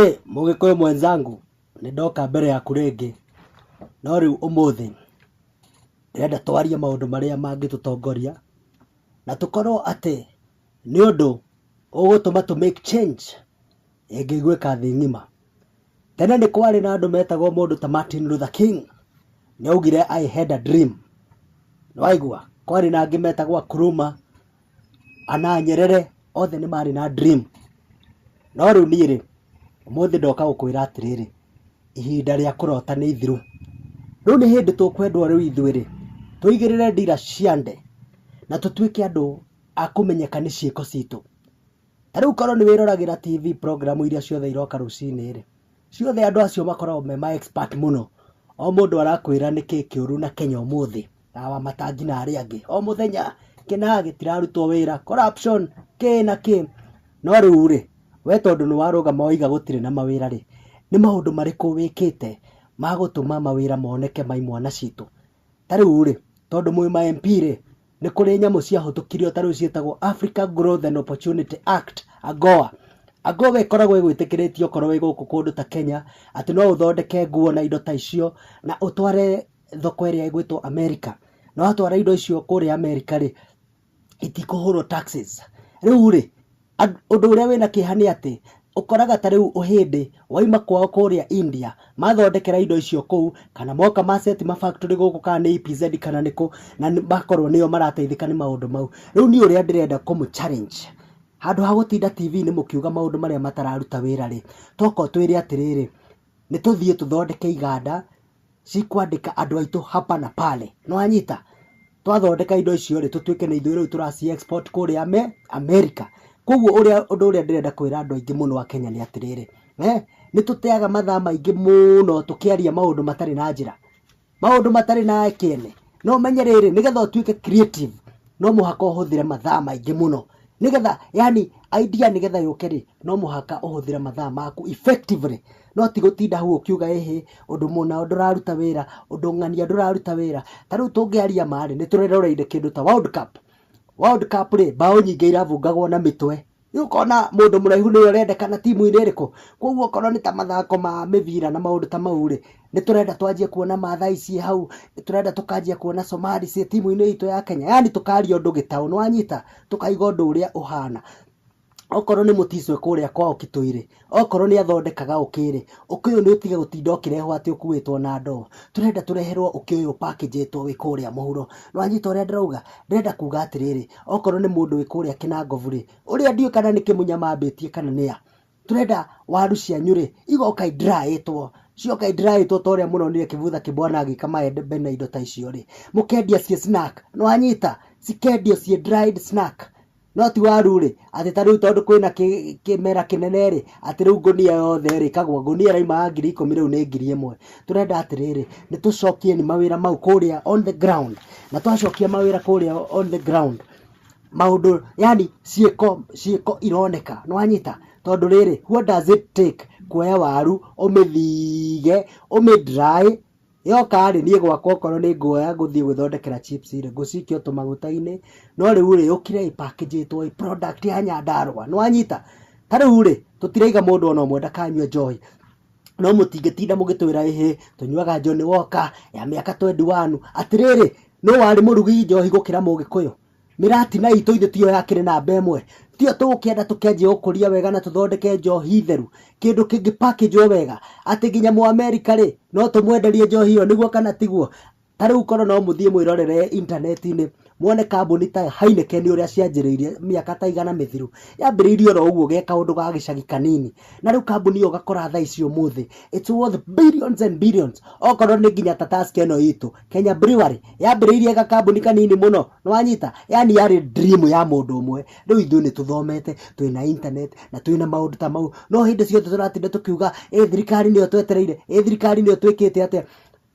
Ĩ mũgĩkũyũ mwenzangu, nĩ ndoka mbere yaku rĩngĩ, no rĩu ũmũthĩ ndĩrenda twarie maũndũ marĩa mangĩtũtongoria na tũkorwo atĩ nĩ ũndũ ũgũtũma tũ make change ĩngĩgwĩka thĩ ng'ima. Tene nĩ kwarĩ na andũ metagwo mũndũ ta Martin Luther King, nĩ augire I had a dream nĩ waigua, kwarĩ na angĩ metagwo Nkrumah. ana Nyerere othe nĩ marĩ na dream. No rĩu niĩ rĩ, ũmũthĩ ndoka gũkwĩra atĩrĩrĩ, ihinda rĩa kũrota nĩ ithiru. Rĩu nĩ hĩndĩ tũkwendwo rĩu ithuĩ rĩ, tũigĩrĩre ndira ciande na tũtuĩke andũ a kũmenyeka nĩ ciĩko citũ. Ta rĩu korwo nĩ wĩroragĩra TV program iria ciothe iroka rũcinĩ rĩ, ciothe andũ acio makoragwo me ma expert mũno. O mũndũ arakwĩra nĩkĩ kĩũru na Kenya ũmũthĩ, na wamatangi na arĩa angĩ. O mũthenya kĩna gĩtirarutwo wĩra, corruption, kĩ na kĩ. No rĩu rĩ, we tondũ nĩ warũgama waiga gũtirĩ na mawĩra rĩ, nĩ maũndũ marĩkũ wĩkĩte ma gũtũma mawĩra moneke ma imwana citũ? Ta rĩu rĩ, tondũ mwĩ ma MP rĩ, nĩ kũrĩ nyamũ ciahũtũkirio ta rĩu ciĩtagwo Africa Growth and Opportunity Act, AGOA. AGOA ĩkoragwo ĩgwĩtĩkĩrĩtie okorwo wĩ gũkũ kũndũ ta Kenya, atĩ no ũthondeke nguo na indo ta icio, na ũtware thoko ĩrĩa ĩgwĩtwo America. Na watwara indo icio kũrĩa America rĩ, itikũhũrwo taxes. Rĩu rĩ, ũndũ ũrĩa wĩna kĩeha nĩ atĩ, ũkoraga ta rĩu hĩndĩ waima kwao kũrĩa India, mathondekera indo icio kũu, kana moka ma set ma factory gũkũ kana nĩ EPZ kana nĩ kũ, na makorwo nĩo marateithĩka nĩ maũndũ mau. Rĩu niĩ ũrĩa ndĩrenda kũmũ challenge, handũ ha gũtinda TV-inĩ mũkiuga maũndũ marĩa matararuta wĩra rĩ, tokorwo twĩre atĩrĩrĩ, nĩ tũthiĩ tũthondeke iganda, cikwandĩka andũ aitũ hapa na pale nĩwanyita twathondeka indo icio rĩ tũtuĩke nĩ ithuĩ rĩu tũraci export kũrĩa me America koguo ũrĩa ũndũ ũrĩa ndĩrenda kwĩra andũ aingĩ mũno a Kenya nĩ atĩrĩrĩ eh, nĩ tũteaga mathaa maingĩ mũno tũkĩaria maũndũ matarĩ na njĩra maũndũ matarĩ na kĩene no menye rĩrĩ nĩgetha ũtuĩke creative no mũhaka ũhũthĩre mathaa maingĩ mũno nĩgetha yani idea nĩgetha yũke rĩ no mũhaka ũhũthĩre mathaa maku effectively No ti gũtinda hau ũkiuga ĩhĩ, ũndũ mũna ndũraruta wĩra, ũndũ ng'ania ndũraruta wĩra. Ta rĩu tũngĩaria ma rĩ, nĩ tũreroreire kĩndũ ta World Cup. World Cup rĩ, mbaũ nyingĩ irabungagwo na mĩtwe. Rĩu ũkona mũndũ mũraihu nĩwe ũrendekana timu-inĩ ĩrĩkũ? Kwoguo okorwo nĩ ta mathako ma mĩbira na maũndũ ta mau rĩ, nĩ tũrenda twanjie kuona Maathai ciĩ hau, nĩ tũrenda tũkanjia kuona Somali ciĩ timu-inĩ itũ ya Kenya, yaani tũkaria ũndũ gĩtaũ, nĩ wanyita? Tũkaiga ũndũ ũrĩa ũhana. Okorwo nĩ mũticwe kũrĩa kwa ũkitũirĩ, okorwo nĩ athondekaga ũkĩrĩ, ũkĩ ũyũ nĩ ũtige gũtinda ũkĩrehwo atĩ ũkuĩtwo na ndoo. Tũrenda tũreherwo ũkĩ ũyũ ũpakĩnjĩtwo wĩ kũrĩa mũhuro. Nĩ wanyita ũrĩa ndĩrauga? Ndĩrenda kuga atĩrĩrĩ, okorwo nĩ mũndũ wĩ kũrĩa Kĩnangobu-rĩ, ũrĩa ndiũĩ kana nĩ Kĩmunya mambĩtie kana nĩ a, tũrenda waru cianyu-rĩ, igoka i dry ĩtwo, cioka i dry ĩtwo ta ũrĩa mũronire Kĩbutha Kĩbwana agĩka maembe na indo ta icio-rĩ, mũkendia ciĩ snack. Nĩ wanyita? Cikendio ciĩ dried snack. No ti waru rĩ, atĩ ta rĩu tondũ kwĩna kĩ- kĩmera kĩnene rĩ, atĩ rĩu ngũnia yothe rĩ, kagwa ngũnia ĩraumaga ngiri ikũmi rĩu nĩ ngiri ĩmwe. Tũrenda atĩrĩrĩ, nĩ tũcokie nĩ mawĩra mau kũrĩa on the ground. Na twacokia mawĩra kũrĩa on the ground, maũndũ yani ciĩko ciĩko ironeka. Nĩ wanyita? Tondũ rĩrĩ, what does it take kuoya waru, ũmĩthige, ũmĩ dry, Yoka-rĩ, niĩ gwakwa okorwo nĩ nguoya gũthiĩ gwĩthondekera chips rĩ, ngũcikia o tũmaguta-inĩ, no rĩu-rĩ, yũkire ĩ package ĩtwo ĩ product ya Nyandarũa, nĩ wanyita? Ta rĩu-rĩ, tũtiraiga mũndũ o na ũmwe ndakanyue njohi, no mũtingĩtinda mũgĩtwĩra ĩhĩ, tũnyuaga Johnny Walker, ya mĩaka twendi wanu, atĩrĩrĩ, nũ warĩ mũrugi njohi gũkĩra Mũgĩkũyũ? mĩratina itũ ithe tiyo yakĩrĩ namba ĩmwe tiyo tũgũkĩenda tũkenjie gũkũria wega na tũthondeke njohi theru kĩndũ kĩngĩ package wega atĩ nginya mũ America rĩ no tũmwenderie njohi ĩyo nĩguo kana tiguo ta rĩu korwo no mũthiĩ mwĩrorere intaneti-inĩ mwone kambuni ta Heineken ũrĩa cianjĩrĩirie mĩaka ta igana mĩthiru yambĩrĩirie oro ũguo ge kaũndũ ga gĩcagi kanini na rĩu kambuni ĩyo ũgakora thaa ici ũmũthĩ it's worth billions and billions okorwo nĩ nginya ta task ĩno itũ Kenya Brewery yambĩrĩirie gakambuni kanini mũno nĩwanyita yani yarĩ dream ya mũndũ ũmwe rĩu ithuĩ nĩ tũthomete twĩna internet na twĩna maũndũ ta mau no hĩndĩ ciothe tũratinda tũkiuga ĩ thirikari nĩyo twetereire ĩ thirikari nĩyo twĩkĩte atĩa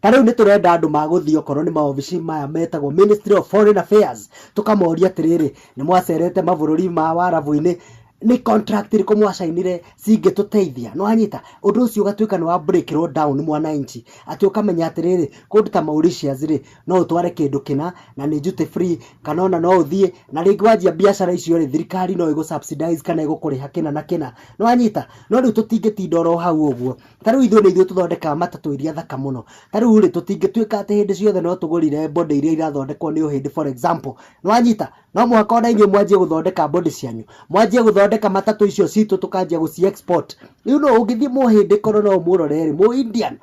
ta rĩu nĩ tũrenda andũ magũthiĩ okorwo nĩ maobici maya metagwo Ministry of Foreign Affairs tũkamoria atĩrĩrĩ nĩ mwacerete mabũrũri ma warabu-inĩ nĩ contract irĩkũ mwacainire cingĩtũteithia nĩwanyita ũndũ ũcio ũgatuĩka nĩ wa breakĩrwo down mwananchi atĩ ũkamenya atĩrĩrĩ, kũndũ ta Mauritius rĩ, no ũtware kĩndũ kĩna na nĩ duty free, kana ona no ũthiĩ, na rĩngĩ wanjia mbiacara icio rĩ, thirikari no ĩgũ subsidize kana ĩgũkũrĩha kĩna na kĩna. Nĩ wanyita? No rĩu tũtingĩtinda oro hau ũguo. Ta rĩu ithuĩ nĩ ithuĩ tũthondekaga matatũ iria thaka mũno. Ta rĩu rĩ, tũtingĩtuĩka atĩ hĩndĩ ciothe no tũgũrire body iria irathondekwo nĩ Ũhĩndĩ for example. Nĩ wanyita? No mũhaka ona inyuĩ mwanjie gũthondeka body cianyu, mwanjie gũthondeka matatũ icio citũ tũkanjia gũci export. Rĩu no ũngĩthiĩ mũhĩndĩ korwo no ũmũrore rĩ, mũindian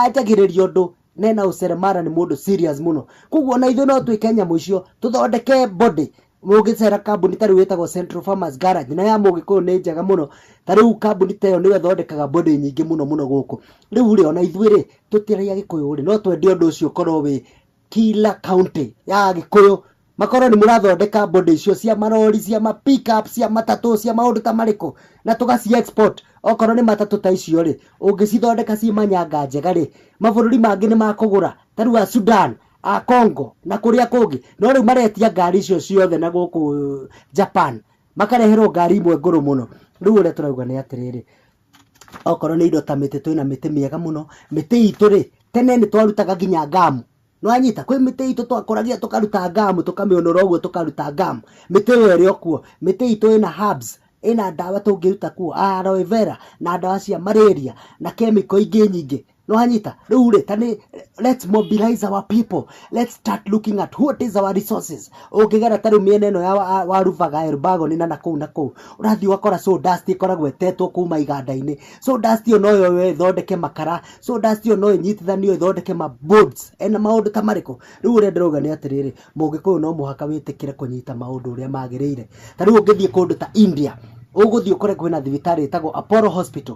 anjagĩrĩria ũndũ na ena ũceremara nĩ mũndũ serious mũno. Koguo ona ithuĩ no twĩke nyamũ icio, tũthondeke body. Ũngĩcera kambuni ta rĩu ĩtagwo Central Farmers Garage na ya Mũgĩkũyũ nĩ njega mũno, ta rĩu kambuni ta ĩyo nĩyo ĩthondekaga body nyingĩ mũno mũno gũkũ. Rĩu rĩ, ona ithuĩ rĩ, tũtirĩ Agĩkũyũ rĩ, no twende ũndũ ũcio ũkorwo wĩ kila county ya agĩkũyũ makorwo nĩ mũrathondeka body icio cia marori cia ma pick up cia matatũ cia maũndũ ta marĩkũ na tũgaci export okorwo nĩ matatũ ta icio rĩ ũngĩcithondeka ciĩ manyanga njega rĩ mabũrũri mangĩ nĩ makũgũra ta rĩu a Sudan a Congo na kũrĩa kũngĩ no rĩu maretia ngari icio ciothe na gũkũ Japan makareherwo ngari imwe ngũrũ mũno rĩu ũrĩa tũrauga nĩ atĩrĩrĩ Okorwo nĩ indo ta mĩtĩ twĩ na mĩtĩ mĩega mũno, mĩtĩ itũ rĩ, tene nĩ twarutaga nginya ngamu, nĩ wanyita? Kwĩ mĩtĩ itũ twakũragia tũkaruta ngamu, tũkamĩũnũra ũguo tũkaruta ngamu, mĩtĩ ĩyo ĩrĩ o kuo. Mĩtĩ itũ ĩna herbs, ĩna ndawa tũngĩruta kuo, aloe vera, na ndawa cia marĩria, na kemiko ingĩ nyingĩ. Nĩwanyita? Rĩu-rĩ, ta nĩ let's mobilize our people. Let's start looking at what is our resources. Ũngĩgera ta rĩu mĩena ĩno ya wa- wa Rubaga, Elbagoni na nakũu na kũu, ũrathiĩ ũgakora sawdust ĩkoragwo ĩtetwo kuma iganda-inĩ. Sawdust ĩyo no yoywo ĩthondeke makara, sawdust ĩyo no ĩnyitithanio ĩthondeke ma boards. Ena maũndũ ta marĩkũ? Rĩu ũrĩa ndĩrauga nĩ atĩrĩrĩ, Mũgĩkũyũ no mũhaka wĩtĩkĩre kũnyita maũndũ ũrĩa magĩrĩire. Ta rĩu ũngĩthiĩ kũndũ ta India, ũgũthiĩ ũkore kwĩna thibitarĩ ĩtagwo Apollo Hospital.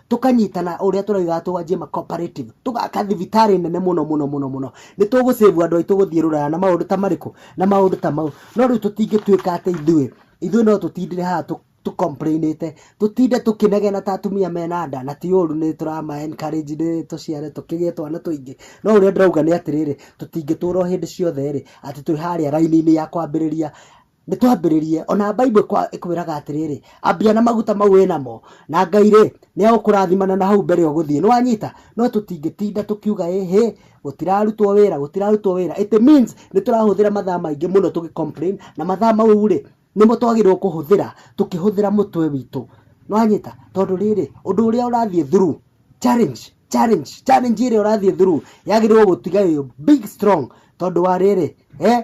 tũkanyitana ũrĩa tũraugaga twanjie ma cooperative tũgaka thibitarĩ nene mũno mũno mũno mũno nĩ tũgũcĩvu andũ aitũ gũthiĩ rũraya na maũndũ ta marĩkũ na maũndũ ta mau no rĩu tũtingĩtuĩka atĩ ithuĩ ithuĩ no tũtindire haha tũ tũ complain ĩte tũtinde tũkĩnegena ta atumia mena nda na ti ũru nĩ tũrama encourage nĩ tũciare tũkĩgĩe twana tũingĩ no ũrĩa ndĩrauga nĩ atĩrĩrĩ tũtingĩtũra o hĩndĩ ciothe rĩ atĩ twĩ harĩa raini-inĩ ya kwambĩrĩria nĩ twambĩrĩrie ona Bible ĩkwa- ĩkwĩraga atĩrĩrĩ ambia na maguta mau wĩ namo na Ngai rĩ nĩ agũkũrathimana na hau mbere ũgũthiĩ nĩ wanyita no tũtingĩtinda tũkiuga ĩ hĩ gũtirarutwo wĩra gũtirarutwo wĩra it means nĩ tũrahũthĩra mathaa maingĩ mũno tũgĩ complain na mathaa mau rĩ nĩmo twagĩrĩirwo kũhũthĩra tũkĩhũthĩra mũtwe witũ nĩ wanyita tondũ rĩrĩ ũndũ ũrĩa ũrathiĩ through challenge challenge challenge ĩrĩa ũrathiĩ through yagĩrĩirwo gũtiga ĩ big strong tondũ wa rĩrĩ eh,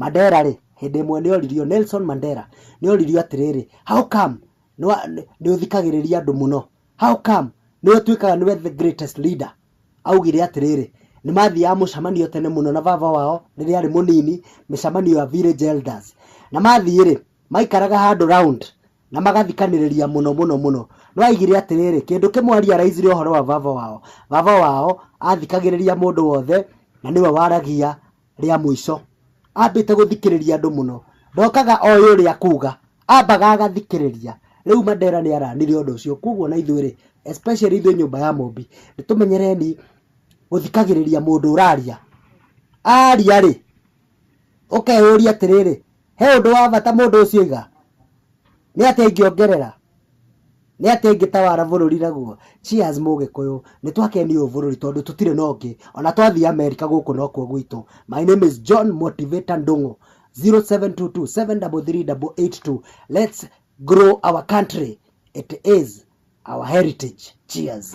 Mandela-rĩ, hĩndĩ ĩmwe nĩ oririo, Nelson Mandela, nĩ oririo atĩrĩrĩ, How come nĩ ũthikagĩrĩria andũ mũno? How come nĩ ũtuĩkaga nĩwe the greatest leader? Augire atĩrĩrĩ, nĩ mathiaga mũcemanio tene mũno na baba wao rĩrĩa arĩ mũnini, mĩcemanio ya village elders. Na mathiĩ-rĩ, maikaraga handũ round na magathikanĩrĩria mũno mũno mũno. Nĩ augire atĩrĩrĩ, kĩndũ kĩmwe a realize-ire ũhoro wa baba wao, baba wao athikagĩrĩria mũndũ wothe na nĩwe waragia rĩa mũico ambĩte gũthikĩrĩria andũ mũno ndokaga oĩ ũrĩa akuga ambaga agathikĩrĩria rĩu Mandela nĩ aranire ũndũ ũcio kwoguo na ithuĩ rĩ especially ithuĩ nyũmba ya Mũmbi nĩ tũmenyereni gũthikagĩrĩria mũndũ ũraria aria rĩ ũkeyũria atĩrĩrĩ He ũndũ wa bata mũndũ ũcio oiga? Nĩ atĩa ingĩongerera? Nĩ atĩa ingĩtawara bũrũri naguo? Cheers mũgĩkũyũ, nĩ twakenio ũũ bũrũri tondũ tũtirĩ na ũngĩ, ona twathiĩ Amerika gũkũ nokuo gwitũ. My name is John Motivator Ndung'u, 0722733882. Let's grow our country, it is our heritage. Cheers.